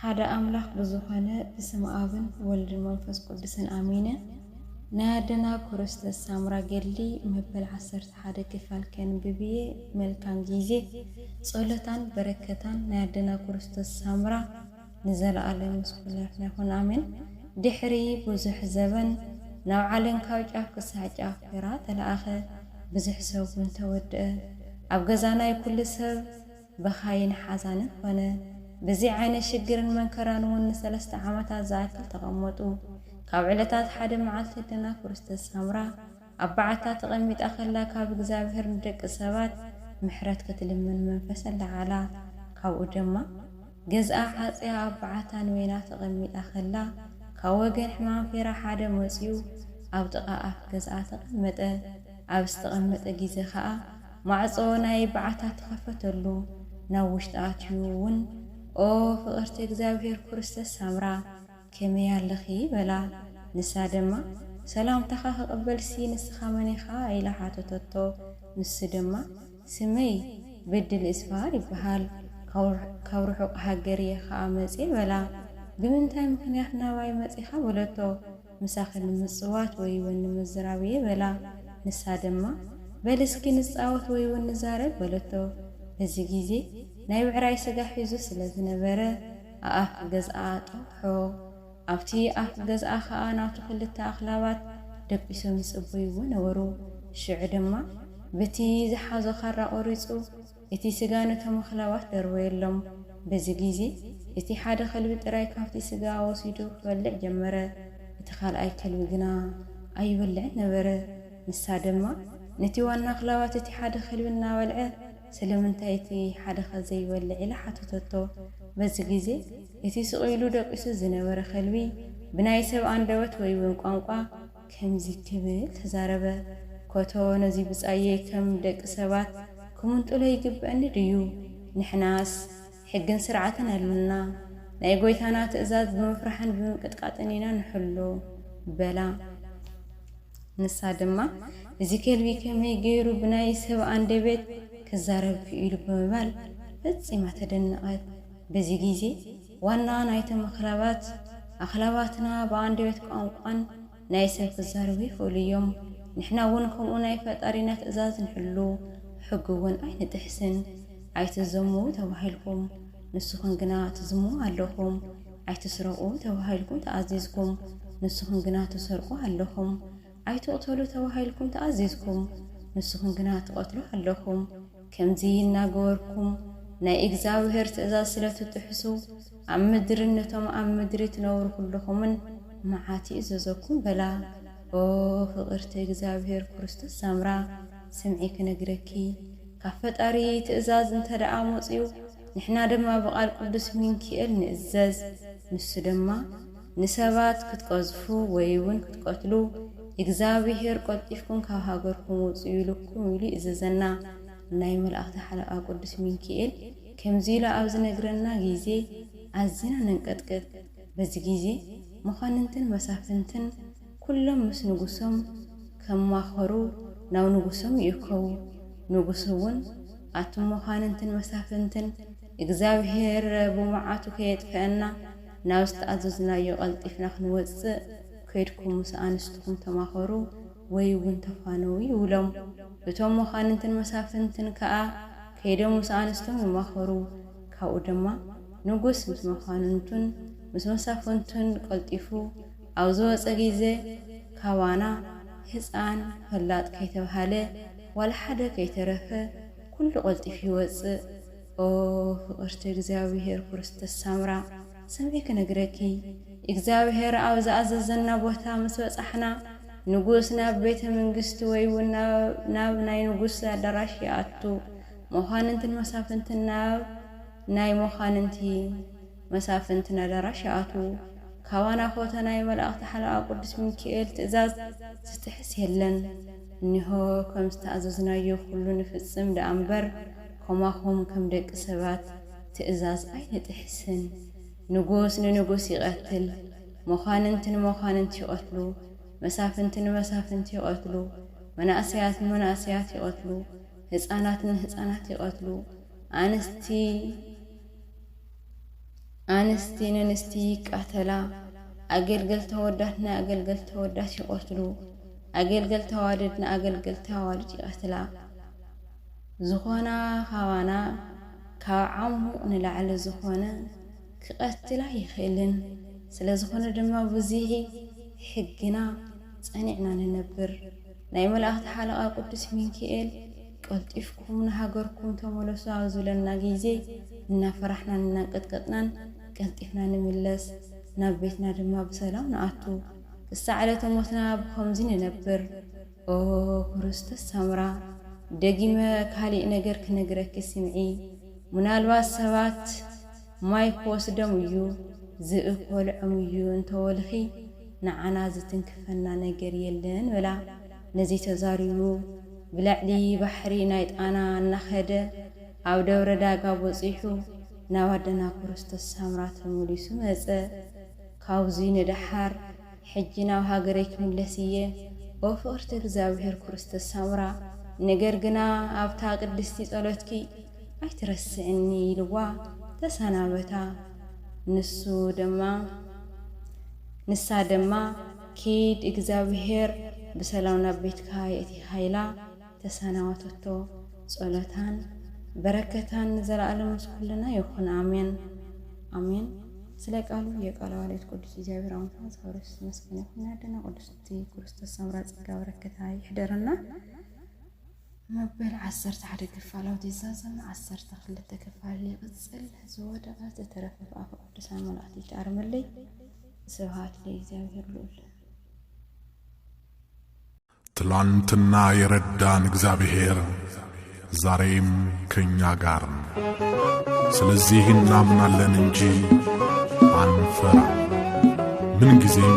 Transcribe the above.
ሓደ ኣምላክ ብዝኮነ ብስም ኣብን ወልድን መንፈስ ቁድስን ኣሚነ ናይ ኣደና ኩርስተ ሳምራ ገድሊ መበል ዓሰርተ ሓደ ክፋል ከንብብ እየ መልካም ጊዜ ጾሎታን በረከታን ናይ ኣደና ኩርስተ ሳምራ ንዘላኣለም ምስ ኩላትና ይኩን ኣሜን ድሕሪ ቡዙሕ ዘበን ናብ ዓለም ካብ ጫፍ ክሳዕ ጫፍ ተራ ተላኣከ ብዙሕ ሰብ ውን ተወድኣ ኣብ ገዛና እዩ ኩሉ ሰብ በኻይን ሓዛንን ኮነ። ብዚ ዓይነት ሽግርን መንከራን እውን ንሰለስተ ዓመታት ዝኣክል ተቐመጡ። ካብ ዕለታት ሓደ መዓልቲ ኣደና ክርስቶስ ሳምራ ኣብ በዓታ ተቐሚጣ ከላ ካብ እግዚኣብሔር ንደቂ ሰባት ምሕረት ክትልምን መንፈስ ኣለዓዕላ። ካብኡ ደማ ገዝኣ ሓጺያ ኣብ በዓታ ንበይና ተቐሚጣ ከላ ካብ ወገን ሕማም ፌራ ሓደ መጺኡ ኣብ ጥቓ ኣፍ ገዝኣ ተቐመጠ። ኣብ ዝተቐመጠ ጊዜ ከኣ ማዕጾ ናይ በዓታ ተኸፈተሉ ናብ ውሽጢ ኣትዩ ውን ኦ ፍቅርቲ እግዚኣብሔር ኩርስተስ ሳምራ ከመይ ኣለኺ በላ ንሳ ደማ ሰላምታኻ ክቅበልሲ ንስኻ መን ኢኻ ኢላ ሓተተቶ ንሱ ደማ ስመይ በድሊ እስፋሃር ይበሃል ካብ ርሑቅ ሃገር እየ ከኣ መጽየ በላ ብምንታይ ምኽንያት ናባይ መጺኻ በለቶ ምሳኺ ንምጽዋት ወይ'ውን ንምዝራብ እየ በላ። ንሳ ድማ፣ በል እስኪ ንጻወት ወይ'ውን ንዛረብ በለቶ። በዚ ግዜ ናይ ብዕራይ ስጋ ሒዙ ስለ ዝነበረ፣ ኣኣፍ ገዝኣ ጠውሖ። ኣብቲ ኣፍ ገዝኣ ኸኣ ናቱ ክልተ ኣኽላባት ደቂሶም ይጽበይዎ ነበሩ። ሽዑ ድማ ብቲ ዝሓዞ ኻራ ቈሪጹ እቲ ስጋ ነቶም ኣኽላባት ደርበየሎም። በዚ ግዜ፣ እቲ ሓደ ኸልቢ ጥራይ ካብቲ ስጋ ወሲዱ ኺበልዕ ጀመረ፣ እቲ ኻልኣይ ከልቢ ግና ኣይበልዕን ነበረ። ንሳ ድማ ነቲ ዋና ኣኽላባት፣ እቲ ሓደ ኸልቢ እናበልዐ፣ ስለምንታይ እቲ ሓደኸ ዘይበልዕ? ኢላ ሓተተቶ። በዚ ግዜ፣ እቲ ስቕ ኢሉ ደቂሱ ዝነበረ ኸልቢ፣ ብናይ ሰብ ኣንደበት ወይ እውን ቋንቋ፣ ከምዚ ክብል ተዛረበ፣ ኮቶ ነዚ ብጻየይ ከም ደቂ ሰባት ክምንጥሎ ይግብእኒ ድዩ? ንሕናስ ሕግን ስርዓትን ኣሎና፣ ናይ ጐይታና ትእዛዝ ብምፍራሕን ብምንቅጥቃጥን ኢና ንሕሉ በላ። ንሳ ድማ እዚ ከልቢ ከመይ ገይሩ ብናይ ሰብ ኣንደበት ክዛረብ ክኢሉ ብምባል ፈጺማ ተደነቐት። በዚ ግዜ። ዋና ናይቲ መክለባት፣ ኣክለባትና ብኣንደበት ቋንቋን ናይ ሰብ ክዛረቡ ይክእሉ እዮም፣ ንሕና እውን ከምኡ ናይ ፈጣሪና ትእዛዝ ንሕሉ፣ ሕጉ እውን ኣይንጥሕስን፣ ኣይትዘሙ ተባሂልኩም፣ ንስኹም ግና ትዝሙ ኣለኹም፣ ኣይትስረቁ ተባሂልኩም ተኣዚዝኩም፣ ንስኹም ግና ትሰርቁ ኣለኹም፣ ኣይትቕተሉ ተባሂልኩም ተኣዚዝኩም፣ ንስኹም ግና ትቐትሉ ኣለኹም። ከምዚ እናገበርኩም ናይ እግዚኣብሄር ትእዛዝ ስለ ትጥሕሱ፣ ኣብ ምድርን ነቶም ኣብ ምድሪ ትነብሩ ዅልኹምን መዓት ይእዘዘኩም በላ። ኦ ፍቕርቲ እግዚኣብሄር ክርስቶስ ሳምራ፣ ስምዒ ክነግረኪ። ካብ ፈጣሪ ትእዛዝ እንተደኣ መጺኡ፣ ንሕና ድማ ብቓል ቅዱስ ሚንኪኤል ንእዘዝ። ንሱ ድማ። ንሰባት ክትቀዝፉ ወይውን ክትቀትሉ እግዝኣብሄር ቆልጢፍኩም ካብ ሃገርኩም ውጹ ኢሉኩም ኢሉ ይእዘዘና ናይ መላእክቲ ሓለቃ ቁዱስ ሚንኪኤል ከምዚ ኢሉ ኣብ ዝነግረና ግዜ ኣዚና ነንቀጥቅጥ በዚ ግዜ መኳንንትን መሳፍንትን ኩሎም ምስ ንጉሶም ከማኸሩ ናብ ንጉሶም ይእከቡ ንጉስ ውን ኣቱም መኳንንትን መሳፍንትን እግዝኣብሄር ብመዓቱ ከየጥፈኣና ናብ ዝተኣዘዝናዮ ቀልጢፍና ክንወጽእ፣ ኬድኩም ምስ ኣንስትኹም ተማኸሩ ወይ እውን ተፋነዉ ይብሎም። እቶም መኳንንትን መሳፍንትን ከኣ ከይዶም ምስ ኣንስቶም ይማኸሩ። ካብኡ ድማ ንጉስ ምስ መኳንንቱን ምስ መሳፍንቱን ቀልጢፉ ኣብ ዝወጸ ጊዜ፣ ካባና ህጻን፣ ፈላጥ ከይተብሃለ፣ ዋላ ሓደ ከይተረፈ ኩሉ ቀልጢፉ ይወጽእ። ኦህ ፍቅርቲ እግዚኣብሔር ኩርስት ሳምራ ስምዒ ክነግረኪ እግዚኣብሔር ኣብ ዝኣዘዘና ቦታ ምስ በጻሕና ንጉስ ናብ ቤተ ምንግስቲ ወይ ውን ናብ ናይ ንጉስ ኣዳራሽ ይኣቱ መኳንንትን መሳፍንትን ናብ ናይ መኳንንቲ መሳፍንቲ ነደራሽ ይኣትዉ። ካባና ኾተ ናይ መላእኽቲ ሓለቓ ቅዱስ ሚኪኤል ትእዛዝ ዝጥሕስ የለን። እኒሆ ከም ዝተኣዘዝናዮ ኹሉ ንፍጽም ደኣ እምበር ኮማኹም ከም ደቂ ሰባት ትእዛዝ ኣይንጥሕስን። ንጉስ ንንጉስ ይቐትል፣ መኳንንቲ ንመኳንንቲ ይቐትሉ፣ መሳፍንቲ ንመሳፍንቲ ይቐትሉ፣ መናእሰያት ንመናእሰያት ይቐትሉ፣ ህጻናት ንህጻናት ይቐትሉ፣ ኣንስቲ፣ ኣንስቲ ነንስቲ ይቃተላ፣ ኣገልገልቲ ኣወዳት ንኣገልገልቲ ኣወዳት ይቐትሉ፣ ኣገልገልቲ ኣዋልድ ንኣገልገልቲ ኣዋልድ ይቐትላ። ዝኾና ካባና ካብ ዓሙቕ ንላዕሊ ዝኾነ ክቐትል ኣይኽእልን። ስለዝኾነ ድማ ብዙሂ ሕግና ጸኒዕና ንነብር። ናይ መላእክቲ ሓለቓ ቅዱስ ሚንኪኤል ቀልጢፍኩም ንሃገርኩም ተመለሱ ኣብ ዝብለና ግይዜ እናፈራሕናን እናንቀጥቀጥናን ቀልጢፍና ንምለስ ናብ ቤትና ድማ ብሰላም ንኣቱ ክሳዕ ዕለተ ሞትና ብኸምዚ ንነብር ኦ ክርስቶስ ሰምራ ደጊመ ካሊእ ነገር ክነግረኪ ስምዒ ምናልባት ሰባት ማይ ክወስዶም እዩ ዝብኢ ክበልዖም እዩ እንተበልኺ ንዓና ዝትንክፈና ነገር የለን በላ ነዚ ተዛሪቡ ብልዕሊ ባሕሪ ናይ ጣና እናኸደ ኣብ ደብረ ዳጋ በጺሑ ናብ ኣደና ክርስቶስ ሳምራ ተመሊሱ መጸ ካብዙይ ንደሓር ሕጂ ናብ ሃገረይ ክምለስ እየ ኦ ፍቅርቲ እግዚኣብሔር ክርስቶስ ሳምራ ነገር ግና ኣብታ ቅድስቲ ጸሎትኪ ኣይትረስዕኒ ኢልዋ ተሰናበታ ንሱ ድማ ንሳ ድማ ኪድ እግዛብሄር ብሰላም ናብ ቤትካ የእቲካ ኢላ ተሰናወተቶ ፆሎታን በረከታን ንዘላኣለም ምስ ኩልና ይኩን ኣሜን ኣሜን ስለ ቃሉ የቃሉ ኣሌት ቁዱስ እግዚኣብሔር ኣምልኮና ዝከበረ የሱስ ዝመስገነ ይኩን ናይ ኣደና ቁዱስቲ ኩሩስቶስ ሰምራ ፀጋ በረከታ ይሕደረና። መበል ዓሰርተ ሓደ ክፋላውት ይዛዘም፣ ዓሰርተ ክልተ ክፋል ይቕጽል፣ ዝወደቐ ዝተረፈ ብኣፈ ቅዱሳን መላእክት ይትኣርመለይ። ስብሃት ለእግዚኣብሔር ልዑል። ትላንትና የረዳን እግዚአብሔር ዛሬም ከእኛ ጋር ነው። ስለዚህ እናምናለን እንጂ አንፈራ ምንጊዜም